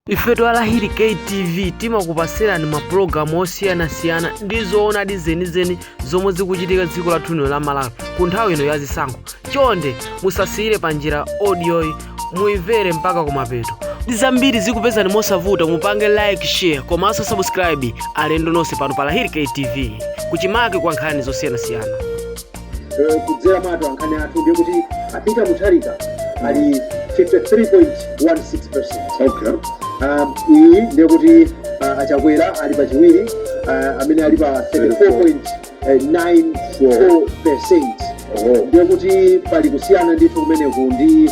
ife twa lahiri ktv timakupatsirani mapulogalamu osiyanasiyana ndi zoonadi zenizeni zomwe zikuchitika dziko lathu lino la malawi ku nthawi ino ya zisankho chonde musasiyire pa njira odiyoyi muimvere mpaka kumapeto kuti zambiri zikupezani mosavuta mupange like share komanso subscribe alendo nonse pano pa lahiri ktv kuchimake kwa nkhani zosiyanasiyana eh, kudzera mwa atolankhani athu ndiye kuti a peter mutharika ali 53.16 percent okay Um, iyi ndiye kuti uh, achakwera ali pachiwiri uh, amene ali pa 34.94 percent oh ndiye kuti pali kusiyana ndithu kumeneku ndi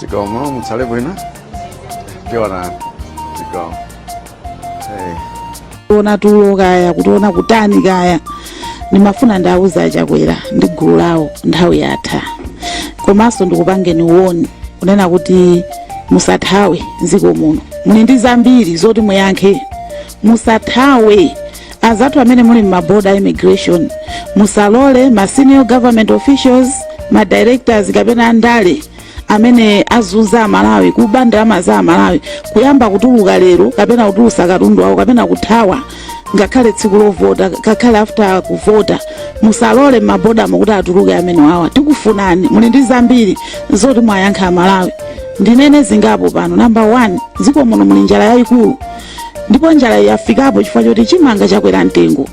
Zikomo mutsale bwino. Tiona. Zikomo. Hey. kuona tulo kaya kutiona kutani kaya ndimafuna ndiwauze achakwera ndi gulu lawo nthawi yatha komanso ndikupangeni warn kunena kuti musathawe mdziko muno muli ndi zambiri zoti muyankhe musathawe azathu amene muli m'maboda a immigration musalole ma senior government officials ma directors kapena andale amene azunza amalawi kuba ndalama za amalawi kuyamba kutuluka lero kapena kutulusa katundu wawo kapena kuthawa ngakhale tsiku lovota ngakhale after kuvota musalole m'mabodamo kuti atuluke amene wawa tikufunani muli ndi zambiri zoti muwayankhe amalawi ndinene zingapo pano namba 1 mdziko muno muli njala yayikulu ndipo njalayo yafikapo chifukwa choti chimanga chakwera mtengo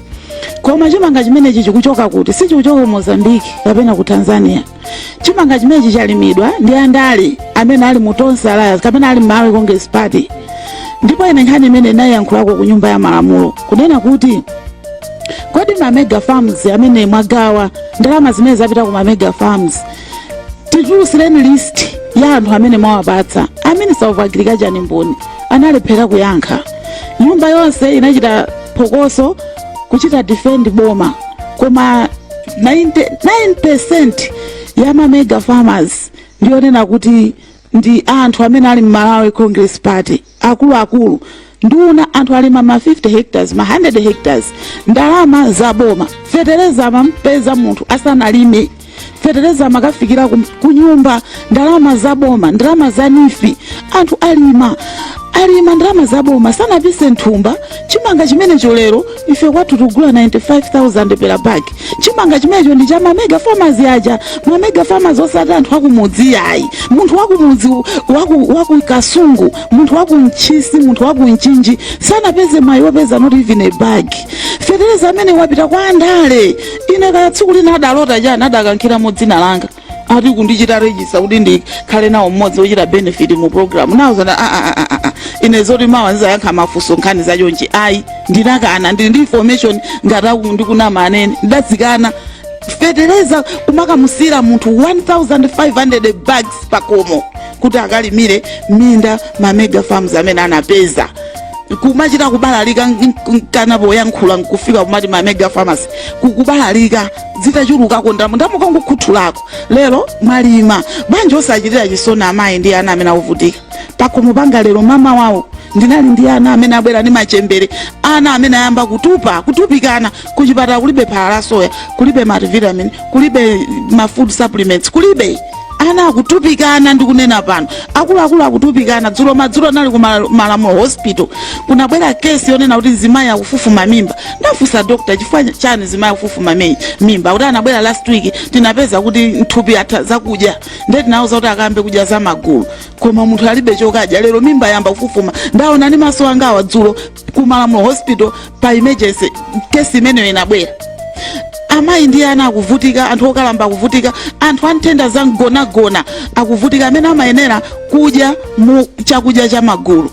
koma chimanga chimenechi chikuchoka kuti sichikuchoka ku mozambiki kapena ku tanzania chimanga chimenechi chalimidwa ndi andale amene ali mu tonse alliance kapena ali mmalawi congress party ndipo ine nkhani imene ndinayankhulako ku nyumba ya malamulo kunena kuti kodi ma mega farms amene mwagawa ndalama zimene zapita ku ma mega farms titulutsireni list ya anthu amene mwawapatsa a minister of agriculture ndi mboni analephera kuyankha nyumba yonse inachita phokoso kuchita defend boma koma 99% ya ma mega farmers ndiyonena kuti ndi anthu amene ali mu malawi congress party akuluakulu nduna anthu alima ma 50 hectares ma 100 hectares ndalama za boma fetereza amampeza munthu asanalime fetereza amakafikira kum- kunyumba ndalama za boma ndalama za neef anthu alima alima ndalama za boma sanapise mthumba chimanga chimenecho lero ife kwathu tikugula 95000 per bag chimanga chimenecho ndi cha mamega farmers aja mamega farmers osati anthu akumudzi ayi munthu wakumudzi waku, waku kasungu munthu wakuntchisi munthu wakumchinji sanapeze mwayi wopeza not even a bag fetereza amene wapita kwa andale ine kaya tsiku lina adalota chani adakankhiramo dzina langa ati kundichita register kuti ndikhale nawo mmodzi wochita benefit mu program nawauza a a a a a ine zoti mawa ndizayankha mafunso nkhani za chonchi ayi ndinakana ndili ndi information ngati akuti ndikunama anene ndidazikana fetereza umakamusira munthu 1500 bags pakomo kuti akalimire minda ma mega farms amene anapeza kumachita kubalalika mkamwa poyankhula nkufika kumati ma mega farmers kubalalika zitachulukako ndalama ndalama kangokhuthulako lero mwalima bwanji osachitira chisoni amayi ndi ana amene akuvutika pakhomo panga lero mama wawo ndinali ndi ana amene abwera ndi machembere ana amene ayamba kutupa kutupikana kuchipatala kulibe phala la soya kulibe multivitamin kulibe ma food supplements kulibe ana akutupikana ndikunena pano akuluakulu akutupikana dzulo madzulo nali ku Mala- malamulo hospital kunabwera kesi yonena kuti mzimayi akufufuma mimba ndafunsa doctor chifukwa chani mzimayi akufufuma mi- mimba kuti anabwera last week tinapeza kuti nthupi atha zakudya nde tinauza kuti akayambe kudya za magulu koma munthu alibe chokadya lero mimba yayamba kufufuma ndaona ndi maso angawa dzulo ku malamulo hospital pa emergency kesi imeneyo inabwera amayi ndi ana akuvutika anthu okalamba akuvutika anthu a nthenda za mgonagona akuvutika amene amayenera kudya mu chakudya cha magulu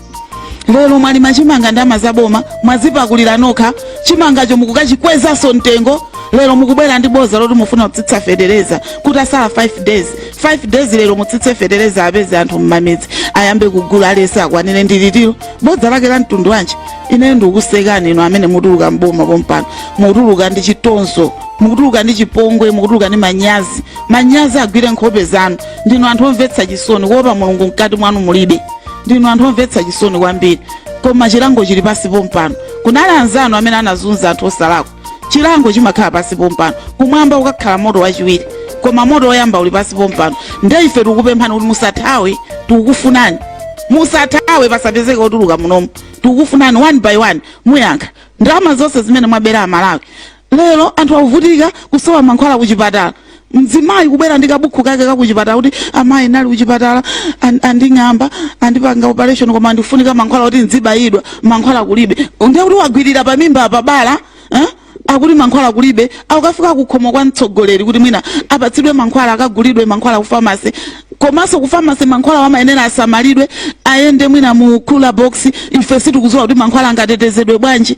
lero mwalima chimanga ndi ndalama za boma mwazipakulira nokha chimangacho mukukachikwezanso mtengo lero mukubwera ndi boza loti mufuna kutsitsa fetereza kuti asala 5 days 5 days lero mutsitse fetereza apeze anthu mmamidzi ayambe kugula aliyense akwanire ndi litsiro bodza lake la mtundu wanji ine ndikukusekani inu amene mutuluka mboma pompano mukutuluka ndi chitonzo mukutuluka ndi chipongwe mukutuluka ndi manyazi manyazi agwire nkhope zanu ndinu anthu omvetsa chisoni kuopa mulungu mkati mwanu mulibe ndinu anthu omvetsa chisoni kwambiri koma chilango chili pansi pompano kunali anzanu amene anazunza anthu osalakwa chilango chimakhala pansi pompano kumwamba ukakhala moto wachiwiri koma moto woyamba uli pansi pompano nde ife tikukupemphani kuti musathawe tikukufunani musathawe pasapezeke otuluka munomu tikukufunani one by one muyankha ndalama zonse zimene mwabera amalawi lero anthu akuvutika kusowa mankhwala kuchipatala mzimayi kubwera ndi kabukhu kake kakuchipatala kuti amayi nali kuchipatala an- anding'amba andipanga operation koma ndifunika mankhwala kuti ndzibayidwa mankhwala kulibe ndiye kuti wagwirira pa mimba pa bala eh? akuti mankhwala kulibe akafika kukhomo kwa mtsogoleri kuti mwina apatsidwe mankhwala akagulidwe mankhwala ku famasi komanso ku famasi mankhwala amayenera asamalidwe ayende mwina mu cooler box ife sitikudziwa kuti mankhwala angatetezedwe bwanji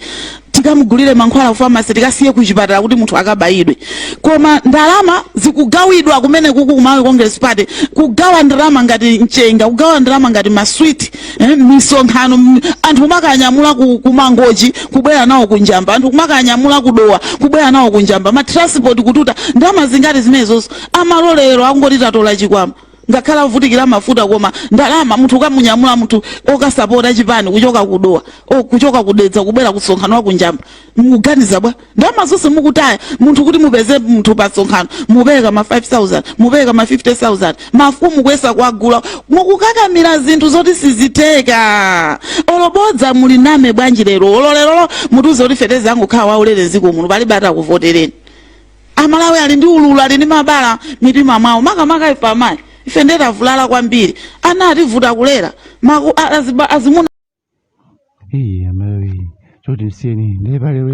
tikamugulire mankhwala ku famasi tikasiye ku chipatala kuti munthu akabayidwe koma ndalama zikugawidwa kumene kuku ku malawi congress party kugawa ndalama ngati mchenga kugawa ndalama ngati maswiti eh, misonkhano m- anthu kumakanyamula ku, ku mangochi kubwera nawo ku njamba anthu kumakanyamula ku dowa kubwera nawo ku njamba matransport kututa ndalama zingati zimenezozo amalolero akungoti tatola chikwama ngakhale avutikira mafuta koma ndalama munthu ukamunyamula munthu okasapota chipani kuchoka kudowa o, kuchoka kudedza kubwera kusonkhano wakunjamba mukuganiza bwa ndalama zonse mukutaya munthu kuti mupeze munthu pa nsonkhano mupereka ma 5000 mupereka ma 50000 mafumu kuyesa kuwagula mukukakamira zinthu zoti sizitheka olo bodza muliname bwanji lero olo lerolo mutiuze kuti feteleza angokhala waulere dziko muno palibe atakuvotereni amalawi ali ndi ululu ali ndi mabala m'mitima mwawo makamaka ife amayi ife ndiye tavulala kwambiri ana ativuta kulera maku a- aziba- azimuna choti msiyeni nde pa lero